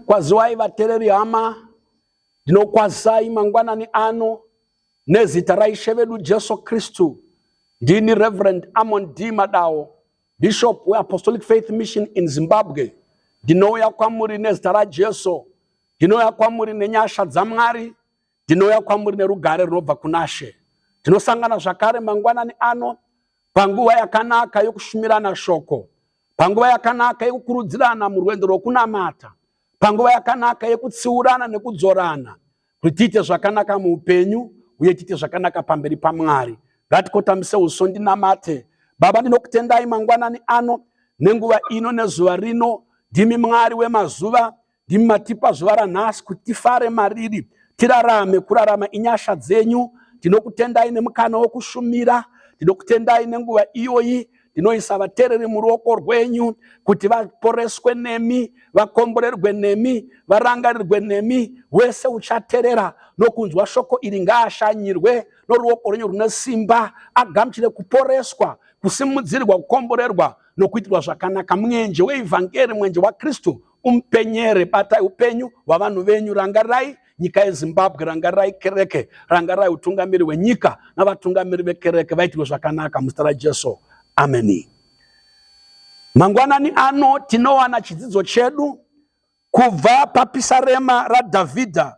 Kwaziwai vatereri hama, ndinokwazai mangwanani ano nezita raIshe vedu Jesu Kristu. Ndini Reverend Amon D Madawo, Bishop weApostolic Faith Mission in Zimbabwe. Ndinouya kwamuri nezita raJesu, ndinouya kwamuri nenyasha dzaMwari, Ndinouya kwamuri nerugare runobva kunashe. Tinosangana zvakare mangwanani ano panguva yakanaka yokushumirana shoko, panguva yakanaka yokukurudzirana murwendo rwokunamata, panguva yakanaka yokutsiurana nekudzorana kuti tiite zvakanaka muupenyu uye tiite zvakanaka pamberi paMwari. Ngatikotamise uso ndinamate. Baba, ndinokutendai mangwanani ano nenguva ino nezuva rino. Ndimi Mwari wemazuva, Ndimi matipa zuva ranhasi kuti tifare mariri, tirarame. Kurarama inyasha dzenyu. Tinokutendai nemukana wokushumira. Tinokutendai nenguva iyoyi ndinoisa vateereri muruoko rwenyu kuti vaporeswe nemi vakomborerwe nemi varangarirwe nemi wese uchaterera nokunzwa shoko iri ngaashanyirwe noruoko rwenyu rune simba agamuchire kuporeswa kusimudzirwa kukomborerwa nokuitirwa zvakanaka mwenje weivhangeri mwenje wakristu Umpenyere, batai upenyu hwavanhu venyu, rangarai nyika yezimbabwe rangarai kereke rangarai utungamiri hwenyika navatungamiri vekereke vaitirwe zvakanaka muzita rajesu ameni mangwanani ano tinowana chidzidzo chedu kubva papisarema radhavhidha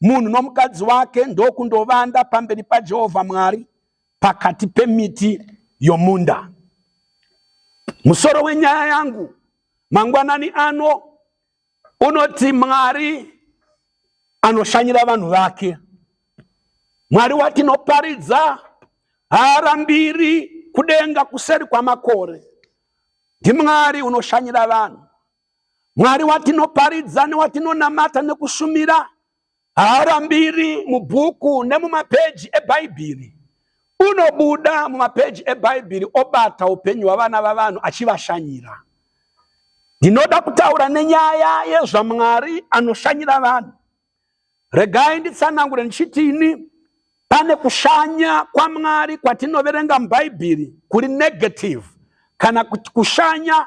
munhu nomukadzi wake ndokundovanda pamberi pajehovha mwari pakati pemiti yomunda musoro wenyaya yangu mangwanani ano unoti mwari anoshanyira vanhu vake mwari watinoparidza haarambiri kudenga kuseri kwamakore ndimwari unoshanyira vanhu Mwari watinoparidza newatinonamata nekushumira haarambiri mubhuku nemumapeji eBhaibheri. Unobuda mumapeji eBhaibheri obata upenyu hwavana vavanhu achivashanyira. Ndinoda kutaura nenyaya yezvaMwari anoshanyira vanhu. Regai nditsanangure ndichiti ini pane kushanya kwaMwari kwatinoverenga muBhaibheri kuri negative kana kushanya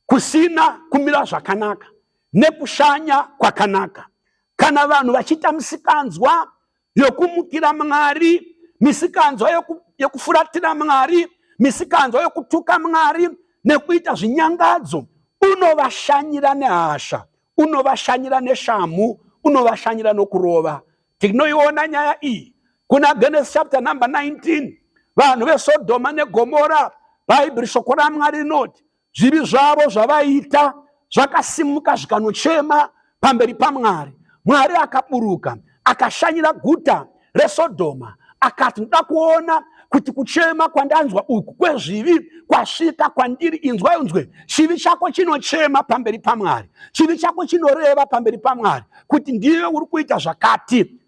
kusina kumira zvakanaka nekushanya kwakanaka. Kana vanhu vachiita misikanzwa yokumukira Mwari, misikanzwa yoku, yokufuratira Mwari, misikanzwa yokutuka Mwari nekuita zvinyangadzo, unovashanyira nehasha, unovashanyira neshamhu, unovashanyira nokurova. Tinoiona nyaya iyi kuna Genesis chapter number 19 vanhu vesodhoma negomora bhaibheri shoko ramwari rinoti zvivi zvavo zvavaiita zvakasimuka zvikanochema pamberi pamwari mwari akaburuka akashanyira guta resodhoma akati ndoda kuona kuti kuchema kwandanzwa uku kwezvivi kwasvika kwandiri inzwai unzwe chivi chako chinochema pamberi pamwari chivi chako chinoreva pamberi pamwari kuti ndiwe uri kuita zvakati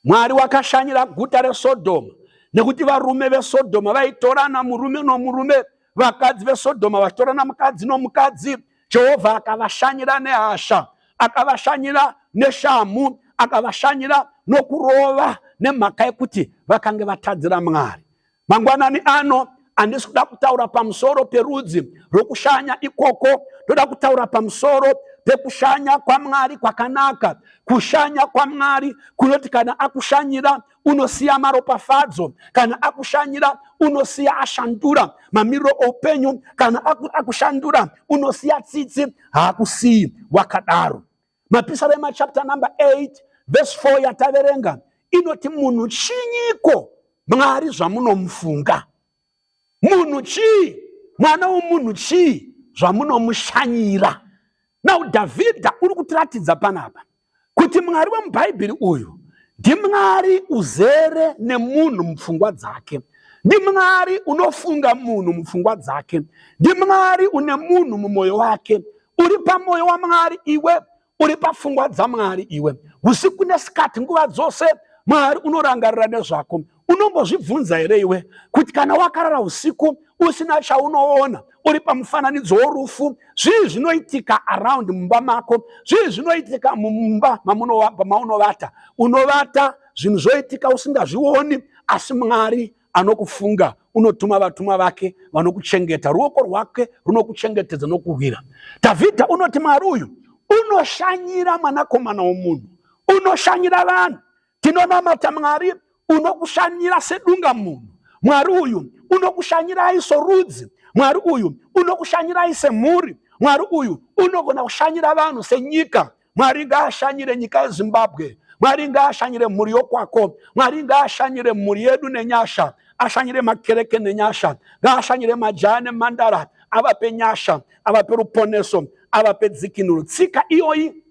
Mwari wakashanyira guta reSodhoma nekuti varume veSodhoma vaitorana murume nomurume, vakadzi veSodhoma vachitorana mukadzi nomukadzi. Jehovha akavashanyira nehasha, akavashanyira neshamhu, akavashanyira nokurova nemhaka yekuti vakange vatadzira Mwari. Mangwanani ano handisi kuda kutaura pamusoro perudzi rwokushanya ikoko, ndoda kutaura pamusoro pekushanya kwaMwari kwakanaka, kushanya kwaMwari kunoti kana akushanyira unosiya maropafadzo, kana akushanyira unosiya ashandura mamiriro oupenyu, kana akushandura unosiya tsitsi, haakusiyi wakadaro. Mapisarema chapter number 8 verse 4 yataverenga inoti munhu chinyiko mwari zvamunomufunga munhu chii mwana womunhu chii zvamunomushanyira now dhavhidha uri kutiratidza panapa kuti mwari wemubhaibheri uyu ndimwari uzere nemunhu mupfungwa dzake ndimwari unofunga munhu mupfungwa dzake ndimwari une munhu mumwoyo wake uri pamoyo wamwari iwe uri pafungwa dzamwari iwe usiku nesikati nguva dzose mwari unorangarira nezvako unombozvibvunza here iwe kuti kana wakarara usiku usina chaunoona uri pamufananidzo worufu zvii zvinoitika around mumba mako zvii zvinoitika mumba maunovata unovata zvinhu zvoitika usingazvioni asi mwari anokufunga unotuma vatumwa vake vanokuchengeta ruoko rwake runokuchengetedza nokuhwira dhavhidha unoti mwari uyu unoshanyira mwanakomana womunhu unoshanyira vanhu tinonamata mwari unokushanyira sedunga munhu mwari uyu unokushanyirai sorudzi mwari uyu unokushanyirai semhuri mwari uyu unogona kushanyira vanhu senyika mwari ngaashanyire nyika yezimbabwe mwari ngaashanyire mhuri yokwako mwari ngaashanyire mhuri yedu nenyasha ashanyire makereke nenyasha ngaashanyire majaya nemhandara avape nyasha avape ruponeso avape dzikinuro tsika iyoyi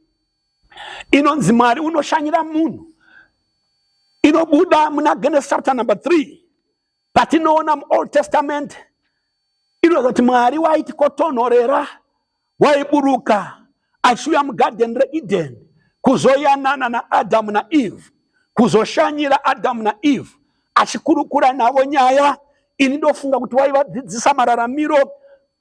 inonzi mwari unoshanyira munhu inobuda muna genesis chapter number 3 patinoona muold testament inozoti mwari waiti kotonhorera waiburuka achiuya mugadheni reedeni kuzoyanana naadhamu naeve kuzoshanyira adhamu naeve achikurukura navo nyaya ini ndofunga kuti waivadzidzisa mararamiro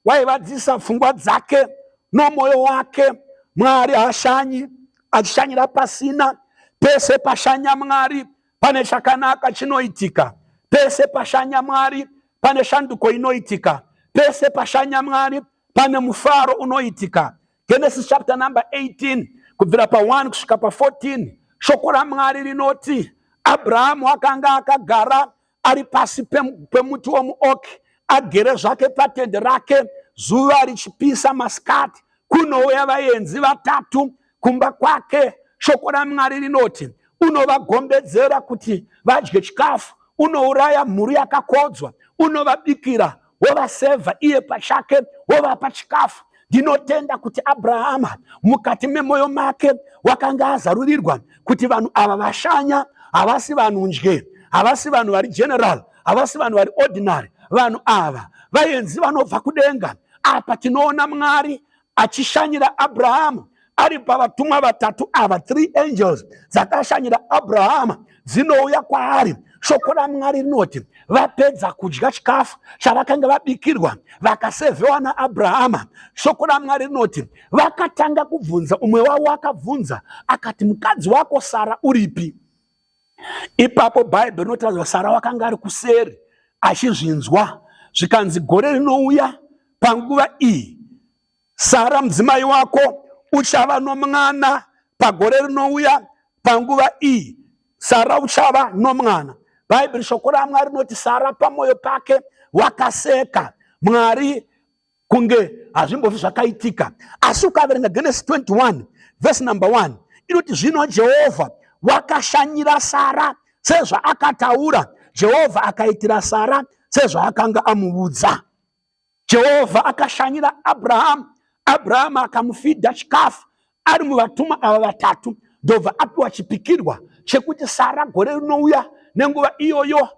waivadzidzisa pfungwa dzake nomwoyo wake mwari hashanyi achishanyira pasina pese pashanya mwari pane chakanaka chinoitika pese pashanya mwari pane shanduko inoitika pese pashanya mwari pane mufaro unoitika genesis chapter number 18 kubvira pa1 kusvika pa14 shoko ramwari rinoti abrahamu akanga akagara ari pasi pemuti wemuoki agere zvake patende rake zuva richipisa masikati kunouya vaenzi vatatu kumba kwake shoko ramwari rinoti unovagombedzera kuti vadye chikafu unouraya mhuri yakakodzwa unovabikira wovasevha iye pachake wovapa chikafu ndinotenda kuti abrahama mukati memwoyo make wakanga azarurirwa kuti vanhu ava vashanya havasi vanhu ndye havasi vanhu vari general havasi vanhu vari ordinary vanhu ava vaenzi vanobva kudenga apa tinoona mwari achishanyira abrahama ari pavatumwa vatatu ava three angels dzakashanyira abrahama dzinouya kwaari shoko ramwari rinoti vapedza kudya chikafu chavakanga vabikirwa vakasevhewa naabrahama shoko ramwari rinoti vakatanga kubvunza umwe wavo akabvunza akati mukadzi wako sara uripi ipapo bhaibheri rinotiratidza sara wakanga ari kuseri achizvinzwa zvikanzi gore rinouya panguva iyi sara mudzimai wako uchava nomwana pagore rinouya panguva iyi sara uchava nomwana bhaibheri shoko ramwari rinoti sara pamwoyo pake wakaseka mwari kunge hazvimbofi zvakaitika asi ukaverenga genesi 21 vhesi number 1 inoti zvino jehovha wakashanyira sara sezvaakataura jehovha akaitira sara sezvaakanga amuudza jehovha akashanyira abrahamu abrahamu akamufidha chikafu ari muvatumwa ava vatatu ndobva apiwa chipikirwa chekuti sara gore rinouya nenguva iyoyo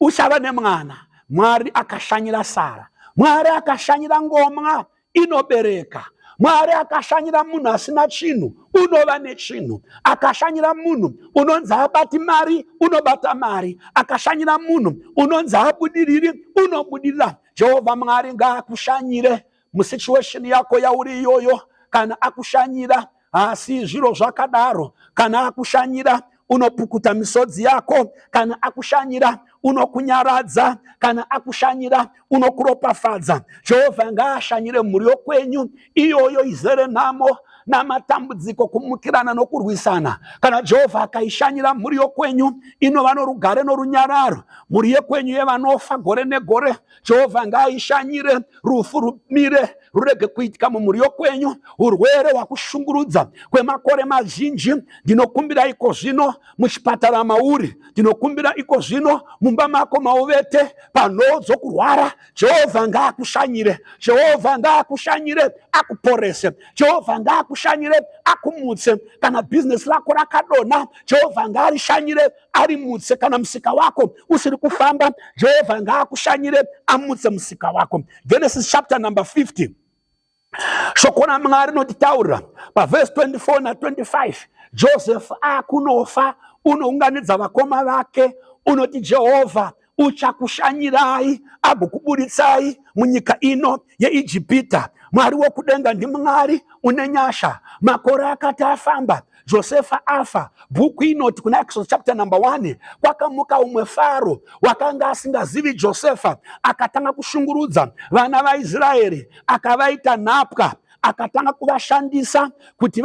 uchava nemwana mwari akashanyira sara mwari akashanyira ngomwa inobereka mwari akashanyira munhu asina chinhu unova nechinhu akashanyira munhu unonzi abati mari unobata mari akashanyira munhu unonzi abudiriri unobudirira jehovha mwari ngaakushanyire musituation yako yauri iyoyo kana akushanyira haasi zviro zvakadaro kana akushanyira unopukuta misodzi yako kana akushanyira unokunyaradza kana akushanyira unokuropafadza jehovha ngaashanyire mhuri yokwenyu iyoyo izere nhamo namatambudziko kumukirana nokurwisana kana jehovha akaishanyira mhuri yokwenyu inova norugare norunyararo mhuri yekwenyu yevanofa gore negore jehovha ngaaishanyire rufu rumire rurege kuitika mumhuri yokwenyu urwere hwakushungurudza kwemakore mazhinji ndinokumbira iko zvino muchipatara mauri ndinokumbira iko zvino mumba mako mauvete panhoo dzokurwara jehovha ngaakushanyire jehovha ngaakushanyire akuporese jehovha ngaakushanyire akumutse kana bhizinesi rako rakadonha jehovha ngaarishanyire ari mutse kana musika wako usiri kufamba jehovha ngaakushanyire amutse musika wako genesis chapter number 50 shoko ramwari rinotitaurira pavhesi 24 na25 josefu akunofa unounganidza vakoma vake unoti jehovha uchakushanyirai agokuburitsai munyika ino yeijipita mwari wokudenga ndimwari une nyasha makore akati afamba josefa afa bhuku inoti kuna exodus chapter number 1 kwakamuka umwe faro wakanga asingazivi josefa akatanga kushungurudza vana vaisraeri akavaita nhapwa akatanga kuvashandisa kuti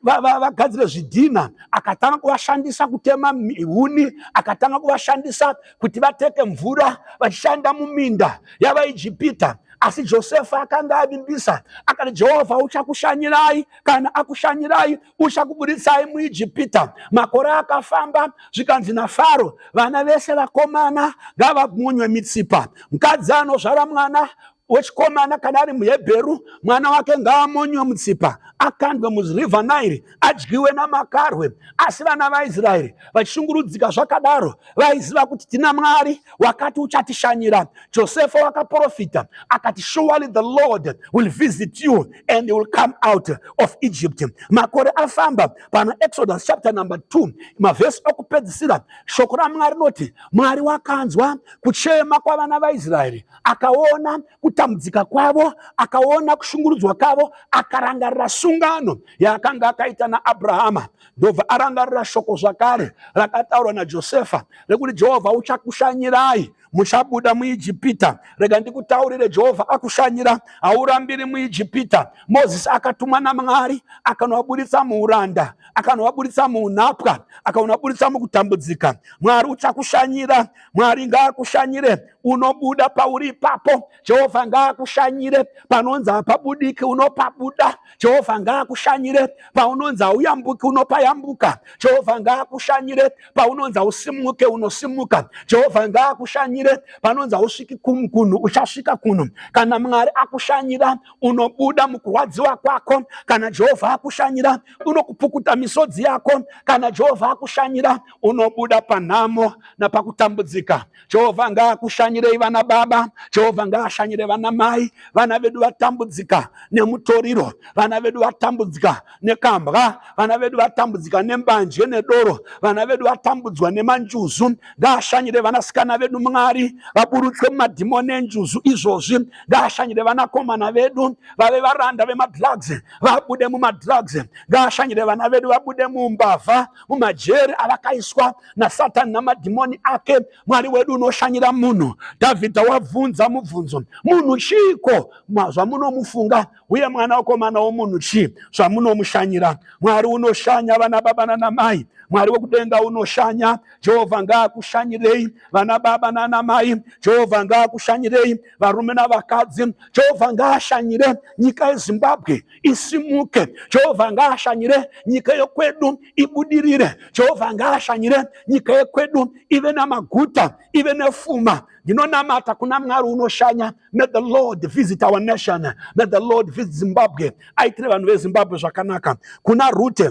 vagadzire zvidhina akatanga kuvashandisa kutema huni akatanga kuvashandisa kuti vateke mvura vachishanda muminda yavaijipita asi josefa akanga avimbisa akati jehovha uchakushanyirai kana akushanyirai uchakuburitsai muijipita makore akafamba zvikanzi nafaro vana vese vakomana ngavamunywe mitsipa mukadzi anozvara mwana wechikomana kana ari muhebheru mwana wake ngaamonywe mutsipa akandwe muriver nile adyiwe namakarwe asi vana vaisraeri vachishungurudzika zvakadaro vaiziva kuti tina mwari wakati uchatishanyira josefa wakaprofita akati surely the lord will visit you and you will come out of egypt makore afamba pana exodus chapter number 2 mavhesi okupedzisira shoko ramwari rinoti mwari wakanzwa kuchema kwavana vaisraeri akaona kutambudzika kwavo akaona kushungurudzwa kwavo akarangarira sungano yaakanga akaita naabrahama ndobva arangarira shoko zvakare rakataurwa najosefa rekuti jehovha uchakushanyirai muchabuda muijipita rega ndikutaurire jehovha akushanyira haurambiri muijipita mozisi akatumwa namwari akanovaburitsa muuranda akanovaburitsa muunhapwa akanovaburitsa mukutambudzika mwari uchakushanyira mwari ngaakushanyire unobuda pauri ipapo jehovha ngaakushanyire panonzi hapabudiki unopabuda jehovha ngaakushanyire paunonzi hauyambuki unopayambuka jehovha ngaakushanyire paunonzi hausimuke unosimuka jehovha ngaakushanyire panonzi hausviki kunhu uchasvika kunhu kana mwari akushanyira unobuda mukurwadziwa kwako kana jehovha akushanyira unokupukuta misodzi yako kana jehovha akushanyira unobuda panhamo napakutambudzika Jehovha ngaakushanyirei vana baba, Jehovha ngaashanyire vana mai. Vana vedu vatambudzika nemutoriro, vana vedu vatambudzika nekambwa, vana vedu vatambudzika nembanje nedoro, vana vedu vatambudzwa nemanjuzu. Ngaashanyire vanasikana vedu Mwari, vaburutswe mumadhimoni enjuzu izvozvi. Ngaashanyire vanakomana vedu, vave varanda vemadrugs, vabude mumadrugs. Ngaashanyire vana vedu, vabude mumbavha, mumajeri avakaiswa nasatani namadhimoni ake mwari wedu unoshanyira munhu dhavhidha wabvunza mubvunzo munhu chiiko zvamunomufunga uye mwana wokomana womunhu chii zvamunomushanyira mwari unoshanya vana baba nanamai mwari wekudenga unoshanya jehovha ngaakushanyirei vana baba nanamai jehovha ngaakushanyirei varume navakadzi jehovha ngaashanyire nyika yezimbabwe isimuke jehovha ngaashanyire nyika yekwedu ibudirire jehovha ngaashanyire nyika yekwedu ive namaguta ive nefuma ndinonamata kuna mwari unoshanya may the lord visit our nation may the lord visit zimbabwe aitire vanhu vezimbabwe zvakanaka kuna rute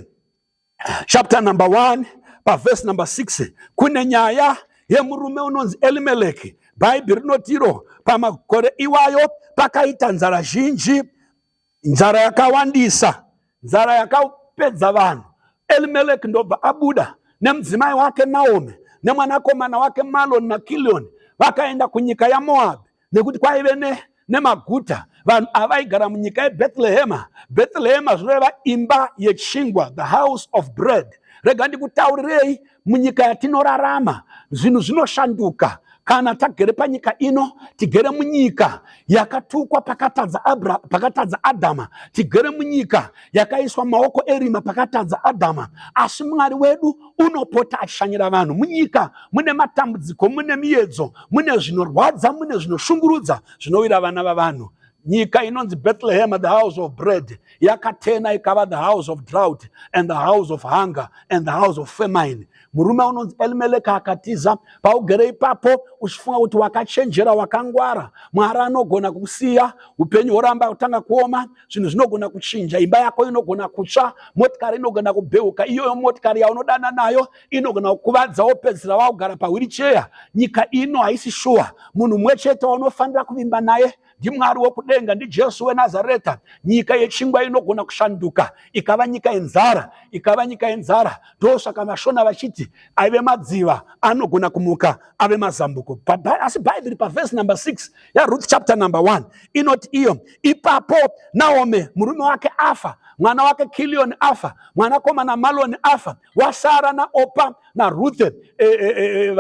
chapter number 1 paverse number 6 kune nyaya yemurume unonzi elimeleki bhaibheri rinotiro pamakore iwayo pakaita nzara zhinji nzara yakawandisa nzara yakapedza vanhu elimeleki ndobva abuda nemudzimai wake naomi nemwanakomana wake maloni nakilioni vakaenda kunyika yamoabhi nekuti kwaive ne nemaguta vanhu avaigara munyika yebhetlehema bhetlehema zvinoreva imba yechingwa the house of bread rega ndikutaurirei munyika yatinorarama zvinhu zvinoshanduka kana tagere panyika ino tigere munyika yakatukwa pakatadza abra pakatadza adhama tigere munyika yakaiswa maoko erima pakatadza adhama asi mwari wedu unopota achishanyira vanhu munyika mune matambudziko mune miyedzo mune zvinorwadza mune zvinoshungurudza zvinowira vana vavanhu nyika inonzi bethlehem the house of bread yakatena ikava the house of drought and the house of hunger and the house of famine murume unonzi elimeleka akatiza paugere ipapo uchifunga kuti wakachenjera wakangwara mwari anogona kukusiya upenyu horamba kutanga kuoma zvinhu zvinogona kuchinja imba yako inogona kutsva motikari inogona kubheuka iyoyo motikari yaunodana nayo inogona kukuvadza wopedzisira wakugara pahwiricheya nyika ino haisi shuwa munhu mumwe chete waunofanira kuvimba naye ndimwari wokudenga ndijesu wenazareta nyika yechingwa inogona kushanduka ikava nyika yenzara ikava nyika yenzara ndosaka mashona vachiti aive madziva anogona kumuka ave mazambuko asi bhaibheri pavhesi number 6 yaRuth chapter number 1 inoti iyo ipapo Naomi murume wake afa mwana wake Kilioni afa mwanakomana Maloni afa wasara naOpa naRuth eh, eh, eh,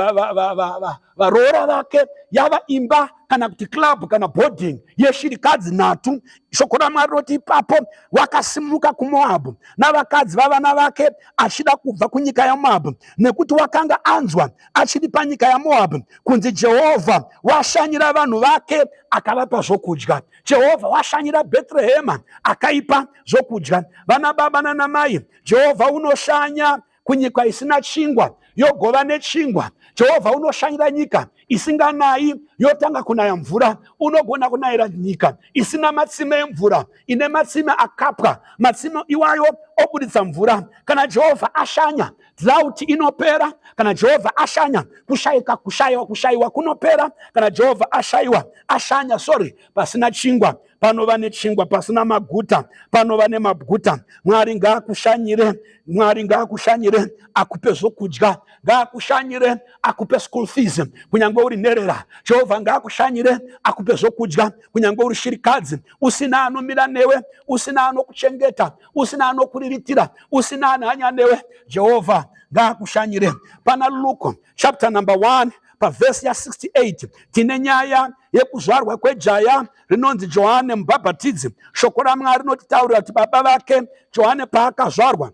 varoora vake yava imba kana kuti club kana boarding yeshirikadzi nhatu shoko ramwari roti ipapo wakasimuka kumoabhu navakadzi vavana vake achida kubva kunyika yamoabhu nekuti wakanga anzwa achiri panyika yamoabhi kunzi jehovha washanyira vanhu vake akavapa zvokudya jehovha washanyira bhetrehema akaipa zvokudya vana baba nanamai jehovha unoshanya kunyika isina chingwa yogova nechingwa jehovha unoshanyira nyika isinganayi yotanga kunaya mvura unogona kunayira nyika isina matsime emvura ine matsime akapwa matsime iwayo obuditsa mvura kana jehovha ashanya Drought inopera kana Jehovha ashanya, kushaika, kushaiwa, kushaiwa kunopera kana Jehovha ashaiwa, ashanya, sorry, pasina chingwa panova nechingwa, pasina maguta panova nemaguta. Mwari ngaakushanyire, Mwari ngaakushanyire, akupe zvokudya, ngaakushanyire, akupe school fees kunyange uri nherera. Jehovha ngaakushanyire, akupe zvokudya kunyange uri shirikadzi, usina anomira newe, usina anokuchengeta. usina anokuriritira usina anhanya newe jehovha ngaakushanyire pana luke chapter number 1 pavhesi ya68 tine nyaya yekuzvarwa kwejaya rinonzi johane mubhabhatidzi shoko ramwari rinotitaurira kuti baba vake johane paakazvarwa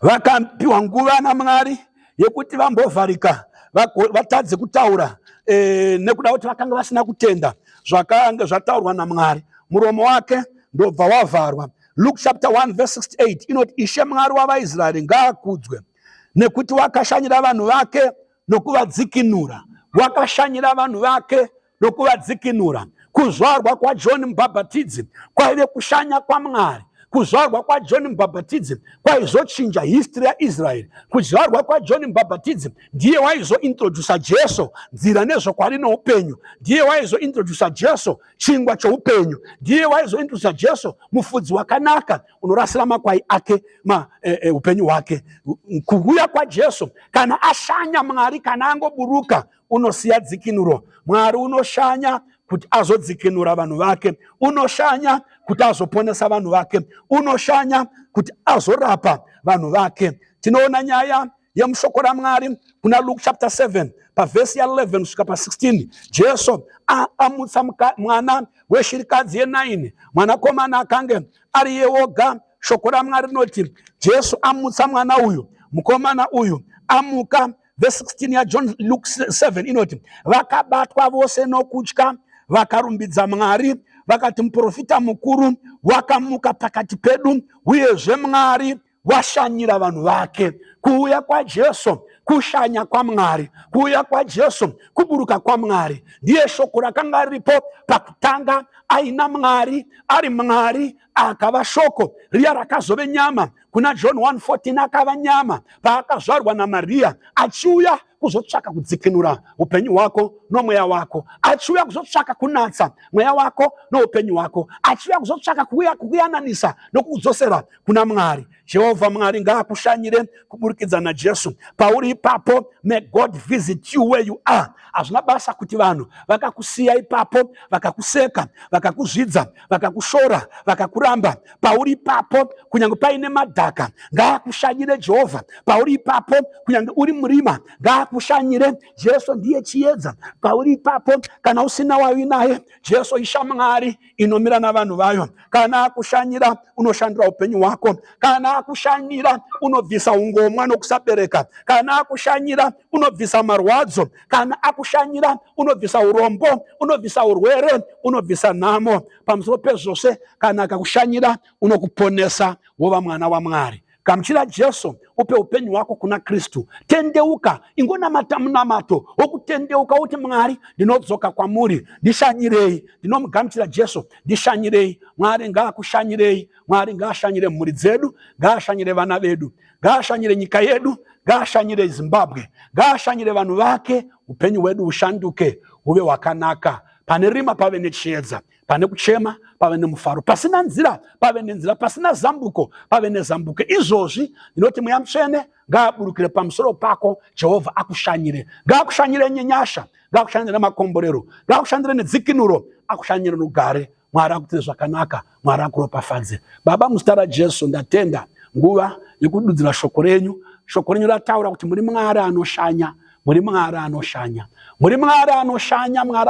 vakapiwa nguva namwari yekuti vambovharika vatadze kutaura e, nekuda kuti vakanga vasina kutenda zvakanga zvataurwa namwari muromo wake ndobva wavharwa luke chapter 1 verse 68 inoti ishe mwari wavaisraeri ngaakudzwe nekuti wakashanyira vanhu vake nokuvadzikinura wakashanyira vanhu vake nokuvadzikinura. Kuzvarwa kwaJohn Mubhabhatidzi kwaive kushanya kwaMwari. Kuzvarwa kwaJohn Mubhabhatidzi kwaizochinja history yaIsraeri. Kuzvarwa kwaJohn Mubhabhatidzi ndiye waizointrodusa Jesu nzira nezvokwadi noupenyu. Ndiye waizointrodusa Jesu chingwa choupenyu. Ndiye waizointrodusa Jesu mufudzi wakanaka unorasira makwai ake ma, e, e, upenyu hwake. Kuuya kwaJesu kana ashanya Mwari kana angoburuka unosiya dzikinuro mwari unoshanya kuti azodzikinura vanhu vake unoshanya kuti azoponesa vanhu vake unoshanya kuti azorapa vanhu vake tinoona nyaya yemushoko ramwari kuna luke chapter 7 pavhesi ya11 kusvika pa16 jesu amutsa mwana weshirikadzi ye9 mwanakomana akange ari yeoga shoko ramwari rinoti jesu amutsa mwana uyu mukomana uyu amuka vhesi 16 yajohn luk 7 inoti vakabatwa vose nokutya vakarumbidza mwari vakati muprofita mukuru wakamuka pakati pedu uyezve mwari washanyira vanhu vake kuuya kwajesu kushanya kwamwari kuuya kwajesu kuburuka kwamwari ndiye shoko rakanga riripo pakutanga aina mwari ari mwari akava shoko riya rakazove nyama kuna john 114 akava nyama paakazvarwa namariya achiuya kuzotsvaka kudzikinura upenyu hwako nomweya wako achiuya kuzotsvaka kunatsa mweya wako noupenyu hwako achiuya kuzotsvaka kukuyananisa nokukudzosera kuna mwari jehovha mwari ngaakushanyire kuburikidza najesu pauri ipapo may god visit you where you are hazvina basa kuti vanhu vakakusiya ipapo vakakuseka vakakuzvidza vakakushora vakakuramba pauri ipapo kunyange paine madhaka ngaakushanyire jehovha pauri ipapo kunyange uri murima ngaakushanyire jesu ndiye chiedza pauri ipapo kana usina wavi naye jesu ishamwari inomira navanhu vayo kana akushanyira unoshandira upenyu hwako kana akushanyira unobvisa ungomwa nokusabereka kana akushanyira unobvisa marwadzo kana akushanyira unobvisa urombo unobvisa urwere unobvisa nhamo pamusoro pezvose kana akakushanyira unokuponesa wova mwana wamwari gamuchira jesu upe upenyu hwako kuna kristu tendeuka ingonamata munamato wokutendeuka uti mwari ndinodzoka kwamuri ndishanyirei ndinomugamuchira jesu ndishanyirei mwari ngaakushanyirei mwari ngaashanyire mhuri dzedu ngaashanyire vana vedu ngaashanyire nyika yedu ngaashanyire zimbabwe ngaashanyire vanhu vake upenyu hwedu hushanduke huve hwakanaka pane rima pave nechiedza pane kuchema pave nemufaro pasina nzira pave nenzira pasina zambuko pave nezambuko izvozvi ndinoti mweya mutsvene ngaaburukire pamusoro pako jehovha akushanyire ngaakushanyire nyenyasha ngaakushandire nemakomborero ngaakushandire nedzikinuro akushanyire nogare mwari akuitire zvakanaka mwari akuropafadze baba muzita rajesu ndatenda nguva yekududzira shoko renyu shoko renyu rataura kuti muri mwari anoshanya muri mwari anoshanya muri mwari anoshanya mwari